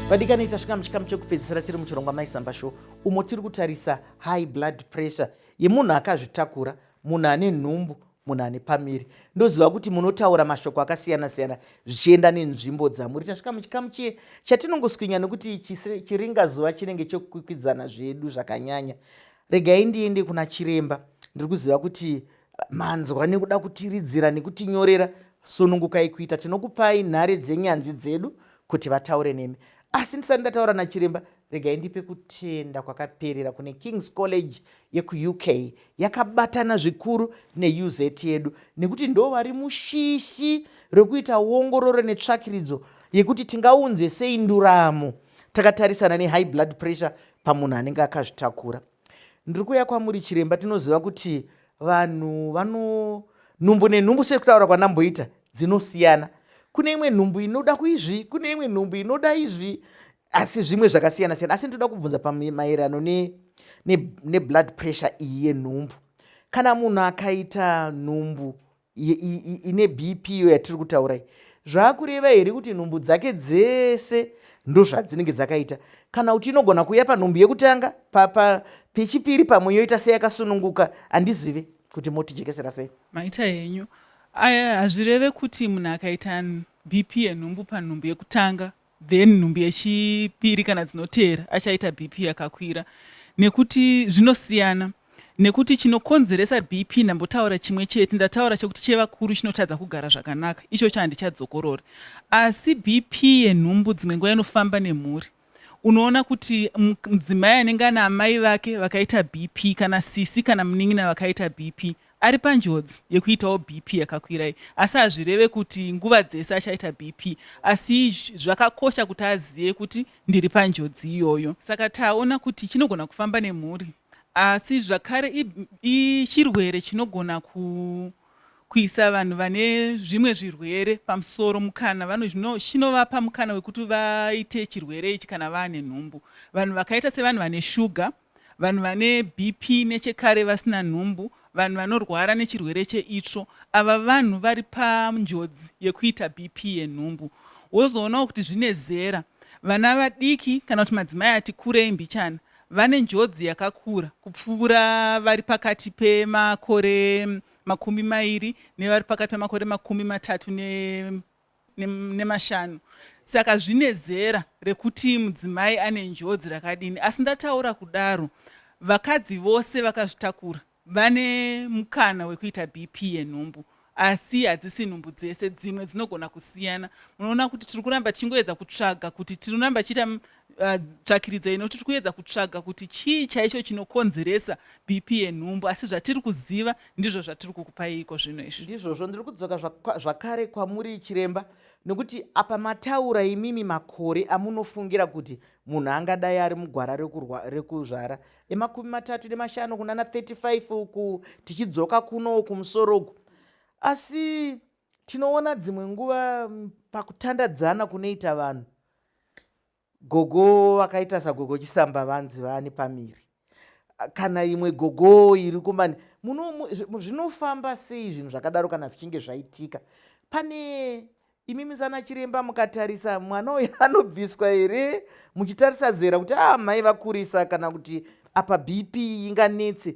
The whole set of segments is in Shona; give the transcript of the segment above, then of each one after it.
vadikani tasvika muchikamu chekupedzisira tiri muchirongwa maisamba show umo tiri kutarisa high blood pressure yemunhu akazvitakura munhu ane nhumbu munhu ane pamiri ndoziva kuti munotaura mashoko akasiyana siyana zvichienda nenzvimbo dzamuri tasvika muchikamu chiye chatinongoswinya nekuti chiringa zuva chinenge chekukwikwidzana zvedu zvakanyanya regai ndiende kuna chiremba ndiri kuziva kuti manzwa nekuda kutiridzira nekutinyorera sunungukai kuita tinokupai nhare dzenyanzvi dzedu kuti vataure nemi asi ndisati ndataura nachiremba regai ndipe kutenda kwakaperera kune kings college yekuuk yakabatana zvikuru neuz yedu nekuti ndo vari mushishi rekuita ongororo netsvakiridzo yekuti tingaunze sei nduramo takatarisana nehigh blood pressure pamunhu anenge akazvitakura Ndiri kuuya kwamuri chiremba, tinoziva kuti vanhu vano nhumbu nenhumbu sekutaura kwanamboita dzinosiyana. Kune imwe nhumbu inoda kuizvi, kune imwe nhumbu inoda izvi, asi zvimwe zvakasiyana siyana. Asi ndoda kubvunza pamaererano ne, ne, neblood pressure iyi yenhumbu. Kana munhu akaita nhumbu ine bp iyo yatiri kutaura iyi zvaakureva here kuti nhumbu dzake dzese ndozvadzinenge dzakaita kana kuti inogona kuuya panhumbu yekutanga pechipiri pamwe yoita seyakasununguka handizive kuti motijekesera sei maita henyu aya hazvireve kuti munhu akaita bp yenhumbu panhumbu yekutanga then nhumbu yechipiri kana dzinoteera achaita bp yakakwira nekuti zvinosiyana nekuti chinokonzeresa bp ndambotaura chimwe chete ndataura chekuti chevakuru chinotadza kugara zvakanaka icho chandichadzokorori asi bp yenhumbu dzimwe nguva inofamba nemhuri unoona kuti mudzimai anenge ana amai vake vakaita bp kana sisi kana munin'ina vakaita bp Ari panjodzi yekuitawo BP yakakwira iyi asi hazvireve kuti nguva dzese achaita BP asi zvakakosha kuti azive kuti ndiri panjodzi iyoyo. Saka taona kuti chinogona kufamba nemhuri asi zvakare ichirwere chinogona ku kuisa vanhu vane zvimwe zvirwere pamusoro mukana vano zvino chinovapa mukana wekuti vaite chirwere ichi kana vaane nhumbu vanhu vakaita sevanhu vane shuga vanhu vane BP nechekare vasina nhumbu, vanhu vanorwara nechirwere cheitsvo, ava vanhu vari panjodzi yekuita BP yenhumbu. Wozoonawo kuti zvine zera, vana vadiki kana kuti madzimai ati kurei mbichana vane njodzi yakakura kupfuura vari pakati pemakore makumi mairi nevari pakati pemakore makumi matatu ne nemashanu saka zvine zera rekuti mudzimai ane njodzi rakadini asi ndataura kudaro vakadzi vose vakazvitakura vane mukana wekuita bp yenhumbu asi hadzisi nhumbu dzese dzimwe dzinogona kusiyana munoona kuti tiri kuramba tichingoedza kutsvaga kuti tinoramba tichiita Uh, tsvakiridza inoti tiri kuedza kutsvaga kuti chii chaicho chinokonzeresa bp yenhumbu asi zvatiri kuziva ndizvo zvatiri kukupaiko zvino izvi ndizvozvo ndiri kudzoka zvakare kwamuri chiremba nekuti apa mataura imimi makore amunofungira kuti munhu angadai ari mugwara rekuzvara emakumi matatu nemashanu kunana 35 uku tichidzoka kuno uku musoro uku asi tinoona dzimwe nguva pakutandadzana kunoita vanhu gogo vakaita sagogo chisamba vanzi vaani pamiri kana imwe gogo iri kumani zvinofamba sei zvinhu zvakadaro kana zvichinge zvaitika pane imi misana chiremba mukatarisa mwana uyo anobviswa here muchitarisa zera kuti a ah, mai vakurisa kana kuti apa bp inganetse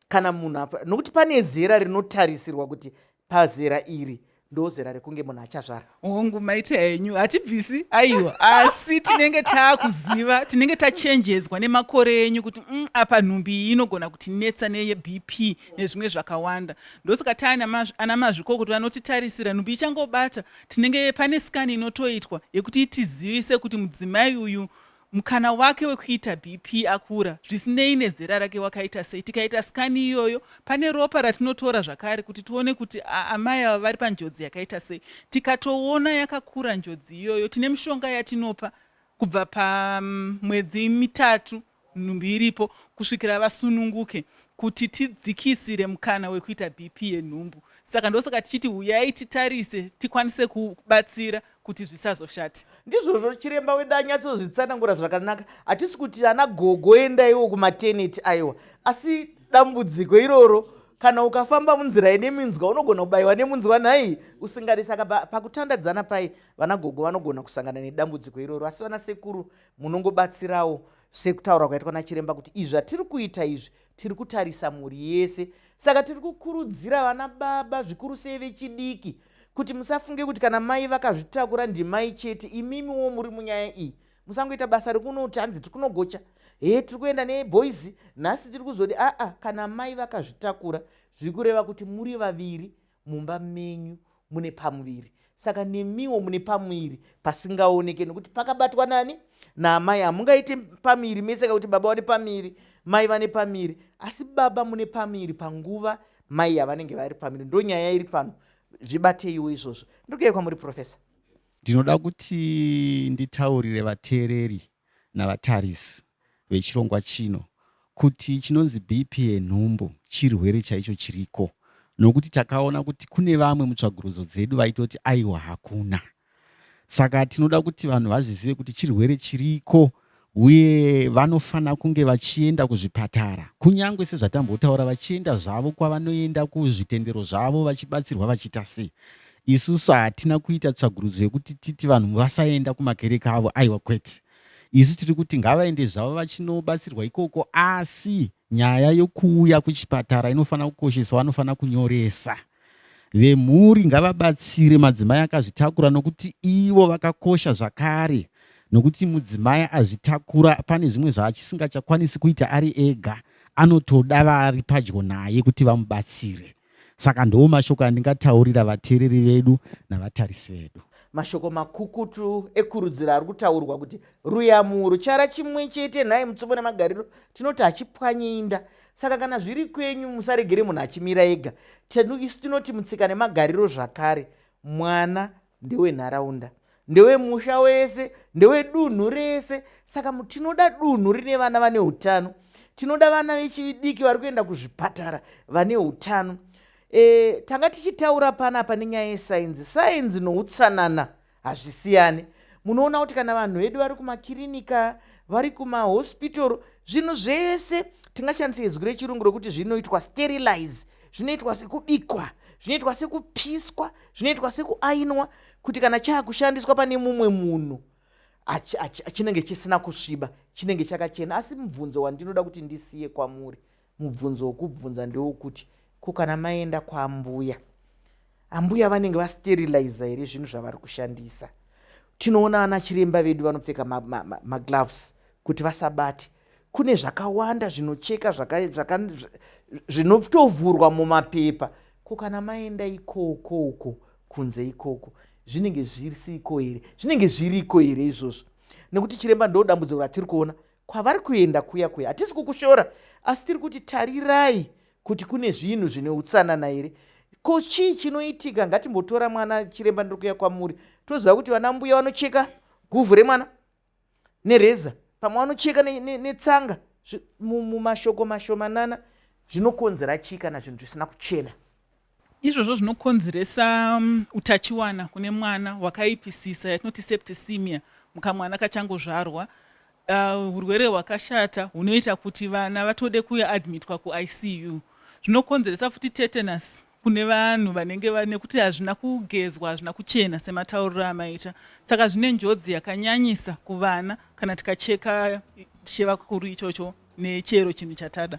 kana munhu apa nokuti pane zera rinotarisirwa kuti pazera iri ndozera rekunge munhu achazvara hongu maite henyu hatibvisi aiwa asi tinenge taakuziva tinenge tachenjedzwa nemakore enyu kuti mm, apa nhumbi iyi inogona kuti netsa neyebp nezvimwe zvakawanda ndosaka taana mazviko kuti vanotitarisira nhumbi ichangobata tinenge pane skani inotoitwa yekuti itizivise kuti mudzimai uyu Mukana wake wekuita BP akura zvisinei nezera rake wakaita sei? Tikaita skani iyoyo, pane ropa ratinotora zvakare kuti tione kuti amai ava vari panjodzi yakaita sei. Tikatoona yakakura njodzi iyoyo, tine mishonga yatinopa kubva pamwedzi mm, mitatu nhumbi iripo kusvikira vasununguke kuti tidzikisire mukana wekuita BP yenhumbu. Saka ndosaka tichiti huyai titarise tikwanise kubatsira kuti zvisazoshate ndizvozvo chiremba wedu anyatsozvitsanangura zvakanaka hatisi kuti ana gogo endaiwo kumateneti aiwa asi dambudziko iroro kana ukafamba munzira ine minzwa unogona kubayiwa nemunzwa nhai usingadi saka pakutandadzana pai vana gogo vanogona kusangana nedambudziko iroro asi vana sekuru munongobatsirawo sekutaura kwaitwa nachiremba kuti izvi zvatiri kuita izvi Tiri kutarisa mhuri yese, saka tiri kukurudzira vana baba, zvikuru sei vechidiki, kuti musafunge kuti kana mai vakazvitakura ndimai chete, imimiwo muri munyaya iyi. Musangoita basa rekunoti hanzi tiri kunogocha, he tiri kuenda neboys nhasi tiri kuzodi, aa, kana mai vakazvitakura zviri kureva kuti muri vaviri Mumba menyu mune pamuviri saka nemiwo mune pamuviri pasingaoneke nokuti pakabatwa nani naamai hamungaiti pamuviri mese kakuti baba vane pamuviri mai vane pamuviri asi baba mune pamuviri panguva mai yavanenge vari pamuviri ndo nyaya iri pano zvibateiwo izvozvo ndiri kuuya kwamuri profesa ndinoda kuti nditaurire vateereri navatarisi vechirongwa chino kuti chinonzi BP yenhumbu chirwere chaicho chiriko nokuti takaona kuti kune vamwe mutsvagurudzo dzedu vaitoti aiwa hakuna. Saka tinoda kuti vanhu vazvizive kuti chirwere chiriko uye vanofanira kunge vachienda kuzvipatara kunyange sezvatambotaura vachienda zvavo kwavanoenda kuzvitendero zvavo vachibatsirwa vachiita sei Isusu hatina kuita tsvagurudzo yekuti titi vanhu vasaenda kumakereke avo, aiwa kwete. Isu tiri kuti ngavaende zvavo vachinobatsirwa ikoko, asi nyaya yokuuya kuchipatara inofanira kukosheswa, vanofanira kunyoresa. Vemhuri ngavabatsire madzimai akazvitakura nokuti ivo vakakosha zvakare, nokuti mudzimai azvitakura pane zvimwe zvaachisingachakwanisi kuita ari ega, anotoda vari padyo naye kuti vamubatsire. Saka ndiwo mashoko andingataurira vateereri vedu navatarisi vedu. Mashoko makukutu ekurudziro ari kutaurwa kuti ruyamuro chara chimwe chete nhai mutsumo nemagariro tinoti hachipwanye inda. Saka kana zviri kwenyu musaregere munhu achimira ega. Tenu isu tinoti mutsika nemagariro zvakare mwana ndewenharaunda ndewemusha wese ndewedunhu rese saka tinoda dunhu rine vana vane utano tinoda vana vechidiki vari kuenda kuzvipatara vane utano e, tanga tichitaura panapa nenyaya yesainzi sainzi noutsanana hazvisiyani munoona kuti kana vanhu vedu vari kumakirinika vari kumahospital zvinhu zvese tingashandisa izwi rechirungu rokuti zvinoitwa sterilize zvinoitwa sekubikwa zvinoitwa sekupiswa zvinoitwa sekuainwa kuti kana chaakushandiswa pane mumwe munhu chinenge chisina kusviba chinenge chakachena asi mubvunzo wandinoda kuti ndisiye kwamuri mubvunzo wokubvunza ndewokuti ko kana maenda kwambuya ambuya vanenge vasteriliza here zvinhu zvavari kushandisa tinoona ana chiremba vedu vanopfeka magloves ma, ma, ma kuti vasabati kune zvakawanda zvinocheka zvinotovhurwa mumapepa ko kana maenda ikoko uko kunze ikoko zvinenge zvisiko here zvinenge zviriko here izvozvo nekuti chiremba ndo dambudziko ratiri kuona kwavari kuenda kuya kuya hatisi kukushora asi tiri kuti tarirai kuti kune zvinhu zvine utsanana here ko chii chinoitika ngatimbotora mwana chiremba ndiri kuya kwamuri toziva kuti vana mbuya vanocheka guvhu remwana nereza pamwe vanocheka netsanga mumashoko mashomanana zvinokonzera chii kana zvinhu zvisina kuchena izvozvo zvinokonzeresa um, utachiwana kune mwana hwakaipisisa yatinoti septisimia mukamwana kachangozvarwa uh, urwere uh, hwakashata hunoita kuti vana vatode kuadmitwa kuicu zvinokonzeresa futi tetanus kune vanhu vanenge va- nekuti hazvina kugezwa hazvina kuchena sematauriro amaita saka zvine njodzi yakanyanyisa kuvana kana tikacheka chevakuru ichocho nechero chinhu chatada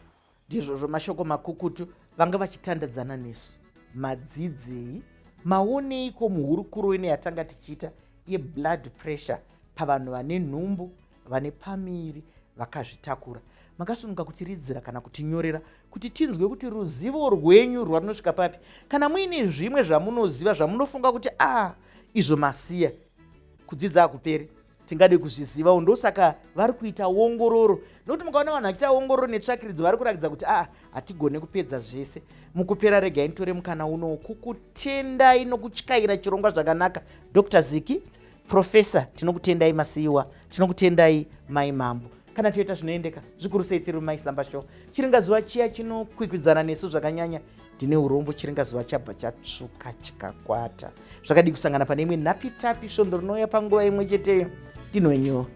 ndizvozvo mashoko makukutu vanga vachitandadzana nesu madzidzei maoneiko muhurukuro ino yatanga tichiita yeblood pressure pavanhu vane nhumbu vane pamiri vakazvitakura makasununguka kutiridzira kana kutinyorera kuti tinzwe kuti ruzivo rwenyu rwarinosvika papi kana muine zvimwe zvamunoziva zvamunofunga kuti a ah, izvo masiya kudzidza hakuperi tingade kuzvizivawo ndosaka vari kuita ongororo nokuti mukaona vanhu vachiita ongororo netsvakiridzo vari kurakidza kuti aa ah, hatigone kupedza zvese mukupera regai nitore mukana unowo kukutendai nokutyaira chirongwa zvakanaka dr ziki Professor tinokutendai masiiwa tinokutendai mai mambo kana toita zvinoendeka zvikuru sei tiri mai samba show chiringa zuva chiya chinokwikwidzana nesu zvakanyanya ndine urombo chiringa zuva chabva chatsvuka chikakwata zvakadii kusangana pane imwe nhapitapi svondo rinouya panguva imwe cheteyo ndinoenyewo